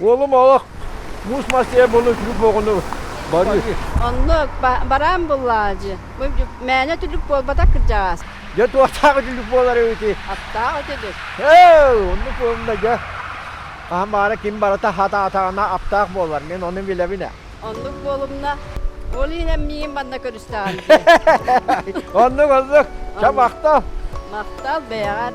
Уолум олох муус мас диэн булуҥ түлүк буоҕуну барыыр. Онно бараан буллаҕа дии. Мээнэ түлүк буолбатах кырдьаҕас. Дьэ туохтаах түлүк буолар үһүтүй? Аттаах үтүлүк. Эл, оннук буолла дьэ. Хаһан баара ким барыта хатаатаҕына аптаах буолар. Мин ону билэбин ээ. Оннук буолумна. Ол иһинэн миигин манна көрүстэҕим дии. Оннук оннук. Ча махтал. Махтал бэйэҕэр.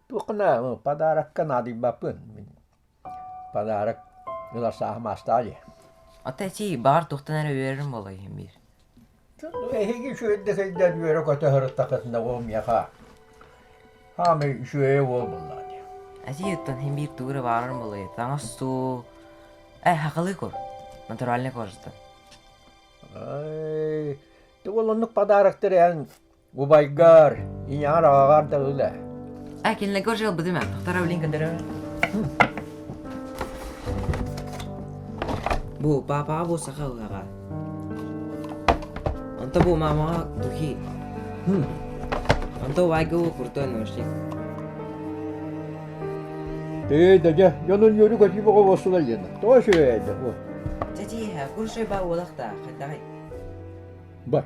Туохна подарокка наадыйбаппын. Подарок ылар сааһым аастаа дии. Ата эчи баар тухтан эрэ үөрэрим болой биир. Эһиги үчүгэйдик өйдөөн үөрэ-көтө ырыттахытына ол миэхэ хаамы үчүгэйэ уол буллаа дии. Эчи юттан хин биир туура баарым болой таҥас суу э хакылый кор натуральный коржтан. Ай, ты олоннук подароктар эн Убайгар, ийэҕэр аҕаҕар да өлө. А кинилэргэ уже ылбыт имэ. Второй блин кадыры. Бу папаҕа бу саха ылаҕа. Онто бу мамаҕа духи. Хм. Онто вайга ол крутой ношник. Ты, дядя, я на нее рюкать не могу восла Лена. Тоже это. Вот. Дядя, куршой ба олахта, хаттай. Бар.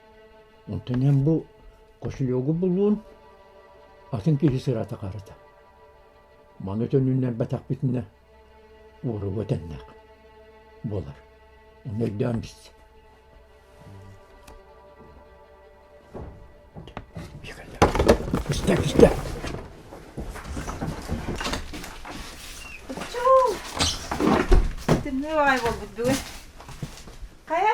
Онтон эн бу кошелегу буллун, атын киһи сырата харата. Маны төнүннэрбэтэхпитинэ, уоруга тэннэх буолар. Ону өйдөөн биз. Пусте, пусте. Тымныы баҕай буолбут бүгүн. Хайа?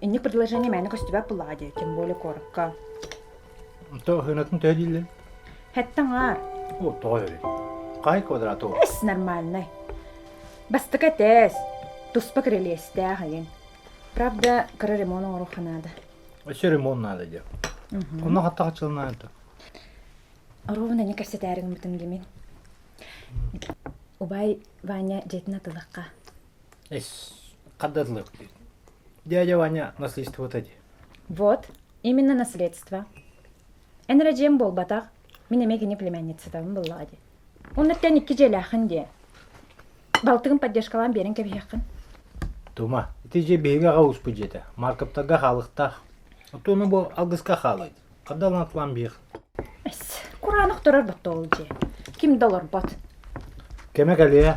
Инник предложение мээнэ көстүбэт буоллаҕа дии, тем более куоракка. То һынатын төһө дииллин? Хэттэн аар. О, тоҕо өлөй? Хай квадратов? Эс, нормальнай. Бастакы этээс, туспа кирилиэстээх айын. Правда, кыра ремонт оҥоруохха наада. Өссө ремонт наада диэ. Онно хатта хачылынаата. Оруобун эни кэпсэтээрин бутун гимин. Убай Ваня дьетин атылахха. Хододловки. Дядя Ваня наследството ди. Вот, именно наследство. Эн эрэ дьиэм буолбатах, мин эмиэ кини племянницатабын буллаҕа ди. Оннуттан икки дьиэлээхин дии. Балтыгын поддержкалаан биэрэн кэбиһиэххин. Тума, ити дьиэ биһиги аҕа успут дьиэтэ. Маркаптарга хаалыктаах. Оттуону бу алгыска хаалайт. Хадалан атлан биэх. Эс, кураанах турар доттоол дьиэ. Ким да олорбот. Кеме кэлиэ.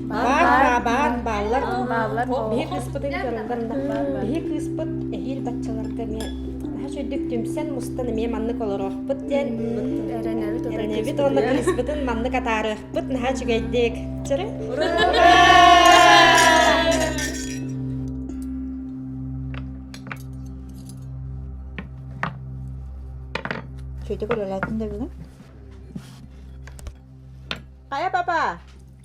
Баар баабаат, бааллар биһир кыыспытын көрөллөр. Биһи кыыспыт эһиир баччаларга эмиэ наһаш үрдүк түмсэн мустан эмиэ маннык олорохпут диэн эрэнэбит уонна кыыспытын маннык атаарыахпыт наһаа үчүгэйдик. Чөрө? Чөйдөгөр өләтин дәбегә? Кая папа?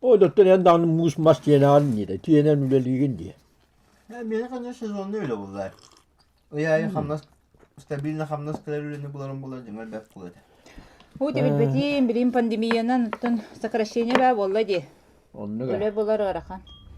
Ол доттор эн даҕаны муус мас тиэнэҕин диэтэ, тиэнэн үлэлиигин дии. Миэхэ ханна сезоннай үлэ буллар. Ый аайы хамнас, стабильно хамнас кэлэр үлэни буларын булар дьиҥэр бэрт кула этэ. Уу ти билбэтиим, билим пандемиянан оттон сокращение баа буолла дии. Оннук ээ. Өлө булар ыарахан.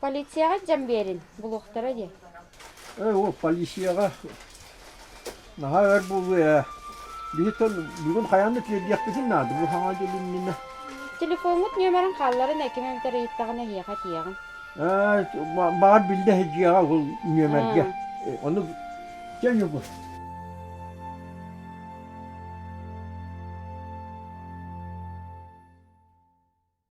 Полицияҕа дьон биэрин, булуохтара диэ. Ээ, ол полицияҕа наһаа өр буолуо ээ. Биһи бүгүн хайаанна тиэрдиэхпитин наада, бу саҥа дьыл иннинэ. Телефоҥҥут ньүөмэрин хаалларын эккинэн этэр ыйыттаҕына эһиэхэ этиэҕим. Ээ, баар биллэ дьиэҕэ ол ньүөмэргэ. Ону чэйи бу.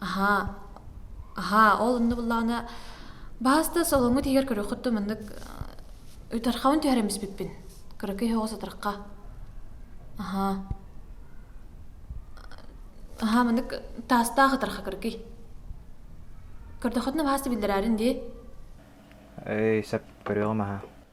аһаа аһаа ол онно буллаҕына баһас да солоҥҥут иһигэр көрүөххүт да маннык утархаҕын түһэрэн испиппин кыракый оһоҕо сатырахха аһаа аһаа маннык таастаах ытарха кыракый көрдөххүтүнэ баһас да биллэрээрин дии ээ сөп көрүөҕүм аһаа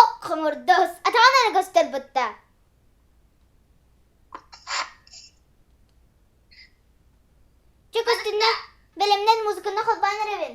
Ок хомурдус атаҕынан көстөр бутта. Чөк үстүнэ бэлэмнэн музыканы холбоон эрэбин.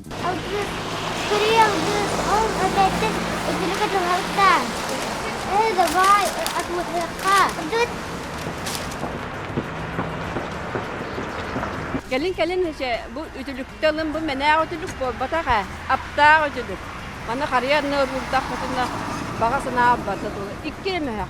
Алгыс, сэрии алгыс, ол этээттэн өтүлүкэ туһалыктаан. Ээ, давай, атмосферка. Тут. Кэлин кэлин эче бу үтүлүктэ ылын бу мэнээх үтүлүк буолбатах ээ. Аптаах үтүлүк. Маны харыйанны уруурдахпытына баҕа санаа барда тула икки мөһөх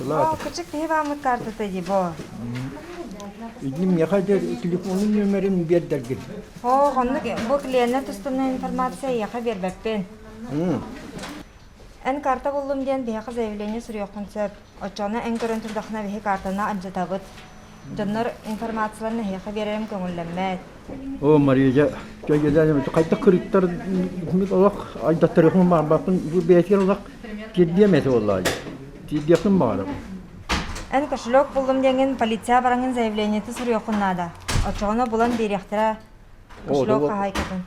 Бо, кучук киһи бааммыт каартата дии, бо. Иди меха дер телефонун нөмерин биэрдэргин. Оо, хоннук бу клиенне тустунна информация яха бербеппен. Эн карта буллум диэн биһиэхэ заявление суруйоххун сөп. Оччону эн көрөн турдахына биһи картаны анжатабыт. Дьоннор информацияларын эһиэхэ биэрэрим көҥүллэммэт. Оо, Мария, хайдах кырыттар олох айдаттарыхын баарбаппын бэйэтигэр олох тиэрдиэм этэ буоллаай тиэрдиэхпин баара эн кошелек буллум диэҥин полиция бараҥын заявлениеты суруйуоххун наада оччоҕуна булан биэриэхтэрэ кошелек хаһаайкатын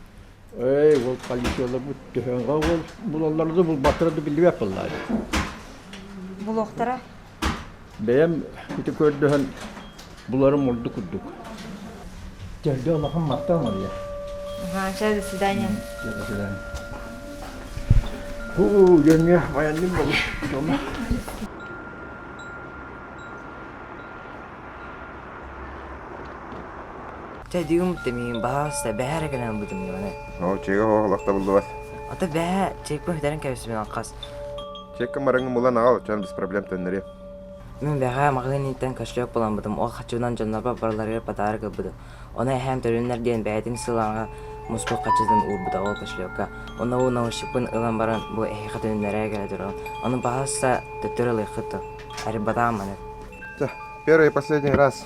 Эй, ол полицияларбыт төһөҕө ол булаллара да булбаттара да биллибэт буолла дии. Булуохтара. Бэйэм ити көрдөһөн буларым ордук курдук. Терде улахан махта Мария. Ага, чай, до свидания. До свидания. Уу, дönüyor. Bayandım da bu. Tamam. Чэ, дьиҥим тэмиим, баһаас да, бэһээ эрэ гынан ылбытым ньыманы. Оо, чэйгэ оһох лахта буллубат. Ата бэһээ чэйку иһитэрин кэбисимэҕин хас. Чэйка мараҥы булан аҕал, чон без проблем төннөрүө. Мин бэһээ маҕаһыыныттан көстөөх буламмытым, ол хаччыынан дьоннорбор барыларыгар патаары кылбытым. Оны эһэм төрүннэр диэн бэйэтин сылааҥа муспут хаччытын уурбута ол көслёкка. Онно уу научникпын ылан баран бу эһиэхэ төрүннэрээ кэлэ туран. Ону баһааса төттөрү ылыаххыт то. Әрбатаан маны. Первый и последний раз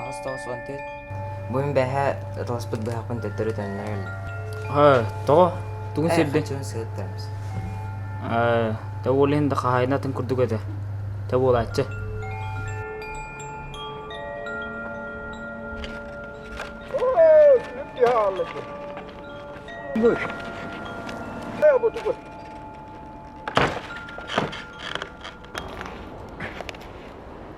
Аҕыс тоҕус уон төрт. Бу мин бэһээ аталаспыт быһахпын төттөрү төннөрө келлим. Тоҕо? Тугун сирдин? Хаччыгын сырыттарбыс. Та уол иһин да хаһайына атын курдук этэ. Та буолааччы. Good. Треба туди.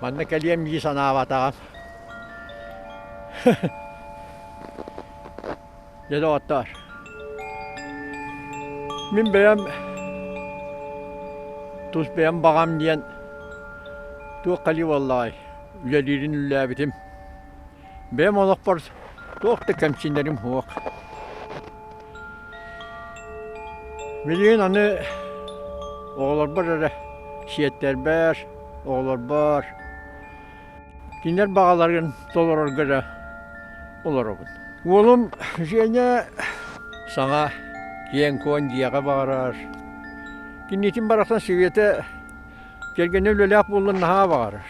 Манна кэлиэм дии санаабатаҕым. Дьэ, доҕоттоор. Мин бэйэм тус бэйэм баҕам диэн туох кэлии буоллаҕай? Үлэлиирин үллээбитим. бэйэм олохпор туох да кэмсинэрим суох. Билигин аны оҕолорбор эрэ сиэттэрбэр, оҕолорбор кинилэр баҕаларын толорорго эрэ олоробун. Уолум Женя саҥа киэҥ-куон дьиэҕэ баҕарар. Кинитин барахсан сириэтэ кэргэнэ үлэлээх буоллар наһаа баҕарар.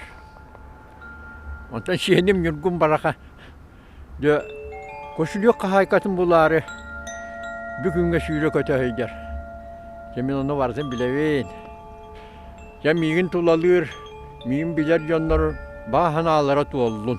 Онтон сиэним Ньургун Бараха дьэ косулүөх хаһаайкатын булаары бүгүҥҥэ сүүрэ-көтө сылдьар. Дьэ мин ону барытын билэбин. Дьэ миигин тулалыыр, миигин билэр дьоннор бааһынаалара туоллун.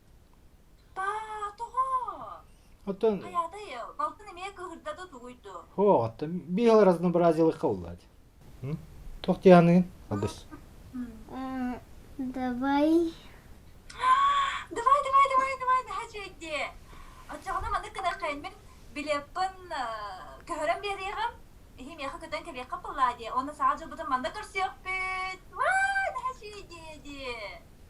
Тоҕо? Оттон Хайаатай, балтын эмиэ кыһырда да тугуйду. Һоо, оттон биир араздана бразилыкка уллаат. Туох дианыгын? Албыс. Давай. Давай, давай, давай, давай, daha чэйди. Оччоҕуна маннык гынаххын мин билеппин көһөрөн биэриэҕим. Иһи миэхэ көтөн кэлиэххэ буоллаа дии. Онно саҕа дьылбытын манна көрсүөхпүт. Ваа, daha чэй дии дии.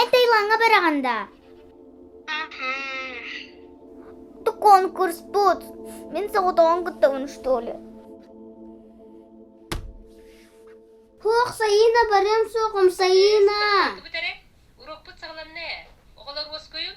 Этэй лаҥа быраҕан даа Ты конкурс бут. Мин соҕотоҕун кыттабын что ли? Хуох Сайыына барыам суоҕум Сайыына. Урукпут саҕаламна. Оҕолор уоскуйун.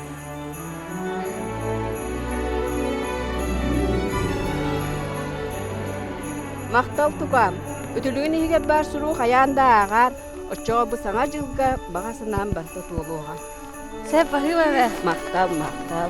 Махтал тукаам, үтүлүгүн иһигэр баар суруу хайаан да ааҕаар, оччоҕо бу саҥа дьылга баҕа санаам барыта туолуоҕа. Сеппахива бе. Махтал, махтал.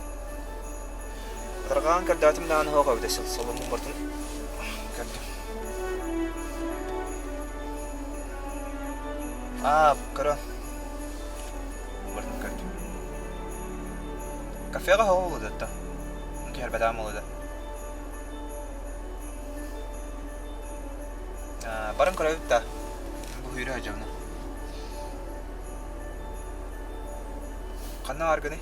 Арҕаан көрдөөтүм даҕаны оһох эбитэ сыл соломмуппутун көрдүм. Аа, көрөн. Бардым көрдüm. Кафеҕа хоһу булууда оттон. Түһэрбэтэҕим болууда. Барын көрөбүт да. Бу хүйрө сылдьабына. Ханна баргыный?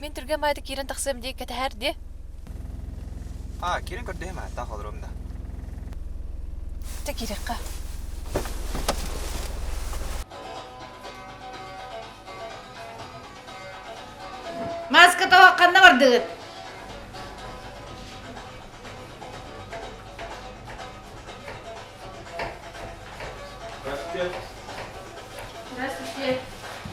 Мин түргэн маайда киирэн тахсыам дии кэтэһээр дии. Аа, киирэн көрдөһүм аа, таах олоруом да. Тэ киирэххэ. Маска тоҕо ханна бардыгыт? Здравствуйте. Здравствуйте.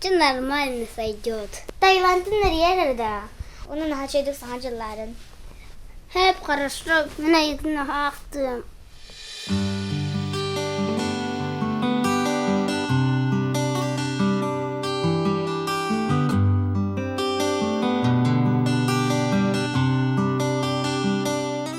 Дьэ нормально сойдет. Таиландтан эрийэр эрдэ. Onun хаачайдык саҥа дьылларын. Hep хорошо. Мен айытын аахтым.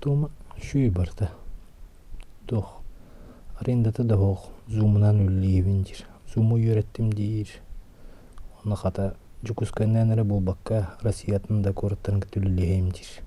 Туома үчүгэй барыта. Туох арендата да суох зумунан үлэлиибин диир. Зуму үөрэттим диир. Уонна хата Дьокуускайынан эрэ буолбакка Россиятын да куораттарын кытта үлэлиэһим диир.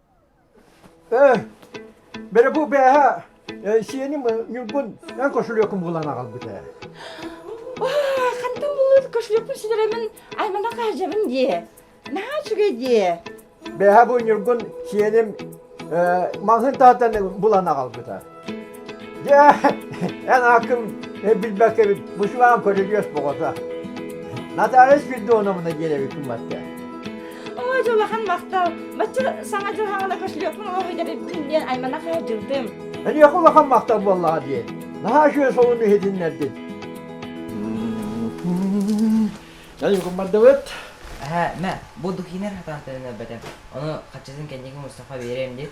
Ээ, бэрэ бу бээһэ сиэним Ньургун эн кошелёкун булан аҕалбыт ээ. Хантан булут кошелёкпун синэрэмин аймана хаажабын дии. Наһаа үчүгэй дии. Бээһэ бу Ньургун сиэним маҕаһыын таһыттан булан аҕалбыта. Дьэ, эн аккын билбэккэ эбит бушеваан көрүлүөс боҕото. Наталья Спиридоновна диэн эбиккин батка. Ой, дьулахан махтал. Бачча саҥа дьыл хаҥана көслүөкмүн оҕо идэрийдин диэн айманах дьылдым. Эниэхэ улахан махтал буоллаҕа диэн. Наһаа үчүгэй солун иһитиннэрдин. Даюкум бардыбыт. Эһэ, мэ, бу Духинер хатаахтарын өлбөтөм. Ону хаччысын кэнники Мустафа биэриэм диэт.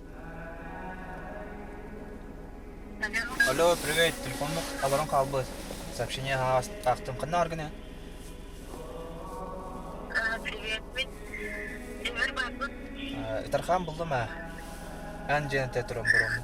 Алло, привет, телефонмук аларын хаалбыт. Сообщение аахтым ханна аргыны? Приветбит. Эмир барбыт. Итархан булдум а. Ан жена те туром буром.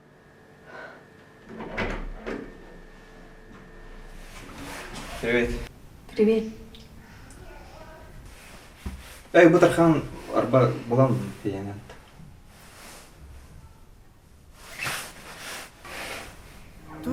Привет. Привет. Эй, бу тархан арба булам фиянат.